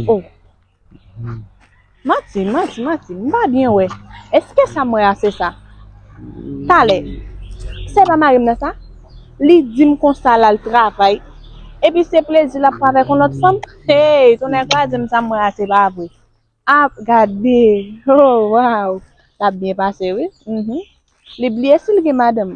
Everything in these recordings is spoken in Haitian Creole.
Oh Mati, Mati, Mati, m pa byen wè. Eske sa m wè a se sa? Talè, se pa mari m nan sa? Li di m konsa l al travay, epi se plezi l ap pran avèk yon lòt fanm? Hey, tonnè kraze m sa m wè a se pa vre. A, gade, oh waww, l ap byen pase wi, li bliye si l gen madanm.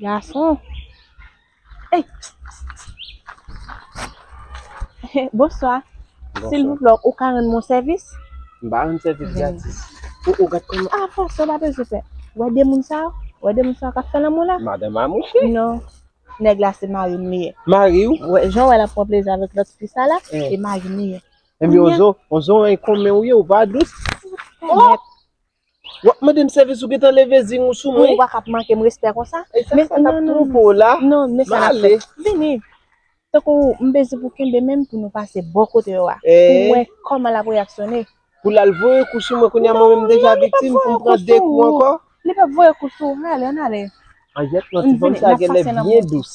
Gason Ey Bonswa Silvouplè ou ka rann mwen sèvis? M pa rann sèvis gratis Ou gad kòman A fò sa ou pa bezwen fè Ou wè de moun sa yo Ou wè de moun sa yo k ap fè lanmou la Madan m a mouche Non Nèg la se mari m li ye Mari w? Wè jan w wè l ap pran plezi avèk lòt fi sa la se mari m li ye Ebyen on zo on zo an e konmen ou ye ou pa dous Mèt Wap mandem sèvis ou gentan leve zing ou sou mwen. Ou pa kap mankem respè konsa. Esa sa tap twonpe w la. Non men sa nap fè. Vini. Tankou m bezwen pou kenbe menm pou nou pase bò kote yo a. Pou wè kòman lap reyaksyone. Pou lal voye kou sou mwen kounya mwen menm m deja viktim pou m pran 2 kou ankò. Li pap voye kou sou ou. Ann ale ann ale. Anjèt non ti fanm sa genlè byen dous.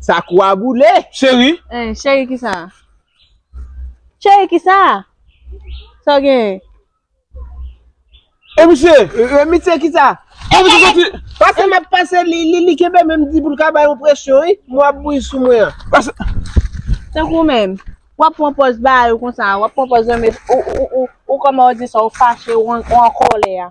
Sa kou a boule. Cheri. Eh cheri ki sa? Cheri ki sa? Sa w genyen? Eh misye. Eh misye ki sa? Eh misye soti. Pase m ap pase li li li kenbe men m di pou l ka bay yon presyon wi. Mwen ap bouyi sou mwen an. Pase. Tankou menm. W ap pran pòz ba yo konsa. W ap pran pòz yon mes ou ou ou ou kòman w di sa w fache ou an kòlè a.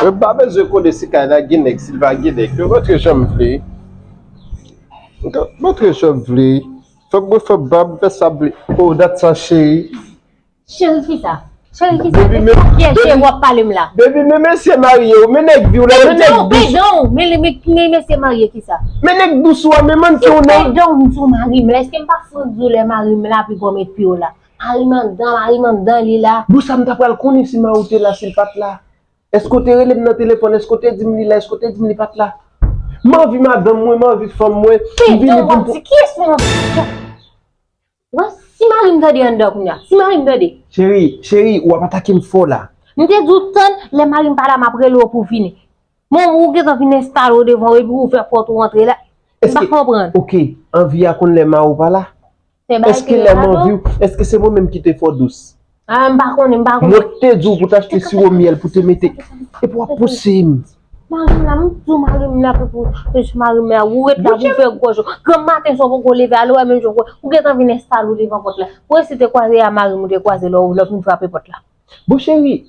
Mwen pa bezwen konnen si kay la gen nèg, si l pa gen nèg. Mwen montre jan m vle. Mwen montre jan m vle. Fè bri fè bri ap fè sa vle. Oh dat sa cheri. Cheri kisa? Cheri kisa? Baby men. Kisa kyè cheri wap pale m la? Baby men mesye marye w men nèg viw la men nèg dous. Pardon pardon men mesye marye kisa? Men nèg dous ou a men manke w nan. Pardon m di w mari m la eske m pa fout di w lè mari m la pi gòm epi w la. Mari m andan mari m andan li la. Bon sa m ta pral konnen si Mao te la si l pat la. Èske w te rele m nan telefòn? Èske w te di m li la? Èske w te di m li pa t la? M anvi madanm mwen, m anvi fanm mwen. M vini pou m pou. Ki sa w ap di? Ki yès moun sa? Ou wè, si mari m tande anndan an kounya, si mari m tande. Cheri, cheri, ou ap atake m fò la. M te di w tann, lè mari m pa la m ap rele w pou w vini. Men ou gentan vin enstale w devan w epi ou ouvè pòt ou antre la. M pa konprann. Ok, anvi a konn lè mari w pa la? Se bagay ki lè mwen viw, eske se mwen menm ki te fò dous? Ah m pa konnen, m pa konnen. Mwen te di w pou w ta achte siwo myèl pou w te mete. Epi w ap pouse m. Mari m la, m di w mari m la pou pou plis mari m la. Ou ret la pou w fè gòj ou. Granm maten sa w poko leve ale wè menm jan w. Ou gentan vin enstale w devan pòt la. Ou resi te kwaze a mari m ou te kwaze lè w lè w fin frape pòt la. Bon cheri,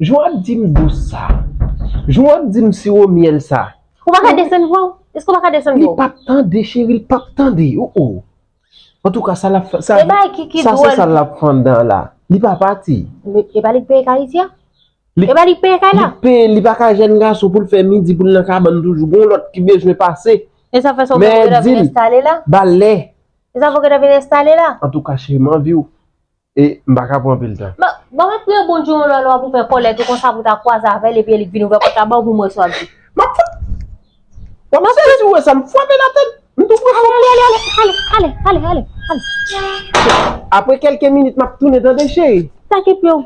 jan w ap di m dous sa. Jan w ap di m siwo myèl sa. Ou pa ka desann vwa w? Eske w pa ka desann vwa w? Li pap tande cheri, li pap tande. Ou ou. Antouka sa lap fè sa E bay ki ki sa dwòl. se sa lap fanndan la. Li pa pati. Li e pa li k peye kay isi a? Li- E pa li k peye kay la? Li peye li pa ka jèn gason pou l fè midi pou l nan kabann toujou. Gon lòt ki bezwen pase. E sa fè sa ou menm ou Men, geta di vin l, enstale la? ba lè. E sa fè ou geta vin enstale la? Antouka cheri m anvi w. E m pa ka pran anpil tan. Bon map priye Bondye yon lwa lwa pou fè kòlèt ou konsa pou ta kwaze avèl epi li k vin ouvè pòt la baw pou mwen sa wap di. Map fwa. Wap mache rete pou mwen sa m fwape nan tèt. M tou pran fòm mwen ale ale ale ale ale ale. Apre kelke minit map tounen tande cheri. Sa ki pou yo.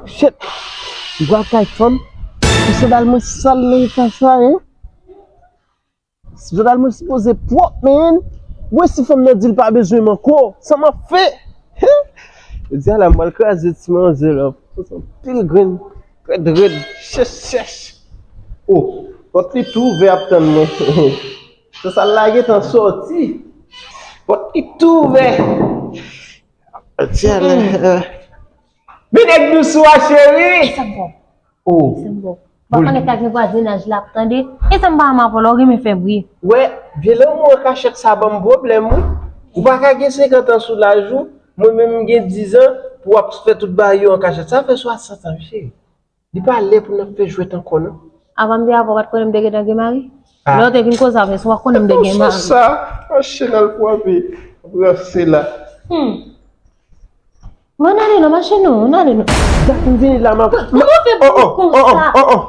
Shit! Gwa kay fanm. Pou sandal mwen sal nan eta sa hein? Sandal mwen sipoze pwop man. Mwen si fanm nan dil pa bezwen m anko. Sa map fè? Hein! Jodi a la mwen al kraze ti manzè la. Mwen son pil grenn. Red red. Chèch chèch. Oh! Pot li tou ouvè ap tann mwen. Sansal la gentan soti. Pot li tou ouvè. Jodi a la. Men nèg dousou a cheri. E sa bon. Oh. E sa bon. Wap konnen sa gen vwazinaj la ap tande. E sa m pa renmen avèw la ou renmen fè bri. Wè, vye lanmou an kachèt sa banm pwoblèm wi. Ou pa ka gen 50 ans sou laj ou, mwen menm m gen 10 ans pou wap fè tout bagay yo an kachèt. Sa fè 60 ans wi cheri. Li pa lè pou nap fè jwèt ankò non. Avan m te avè w pat konnen m te gentan gen mari? Lè w te vin koze avè m se pa w konnen m te gen mari. Ou sou sa? An chen al pou anvi ranse la. Hum. M'en ale non mache non, m'en ale non. Dat m vini la map. Kòman w fè pou w konsa? Oh oh oh oh oh oh.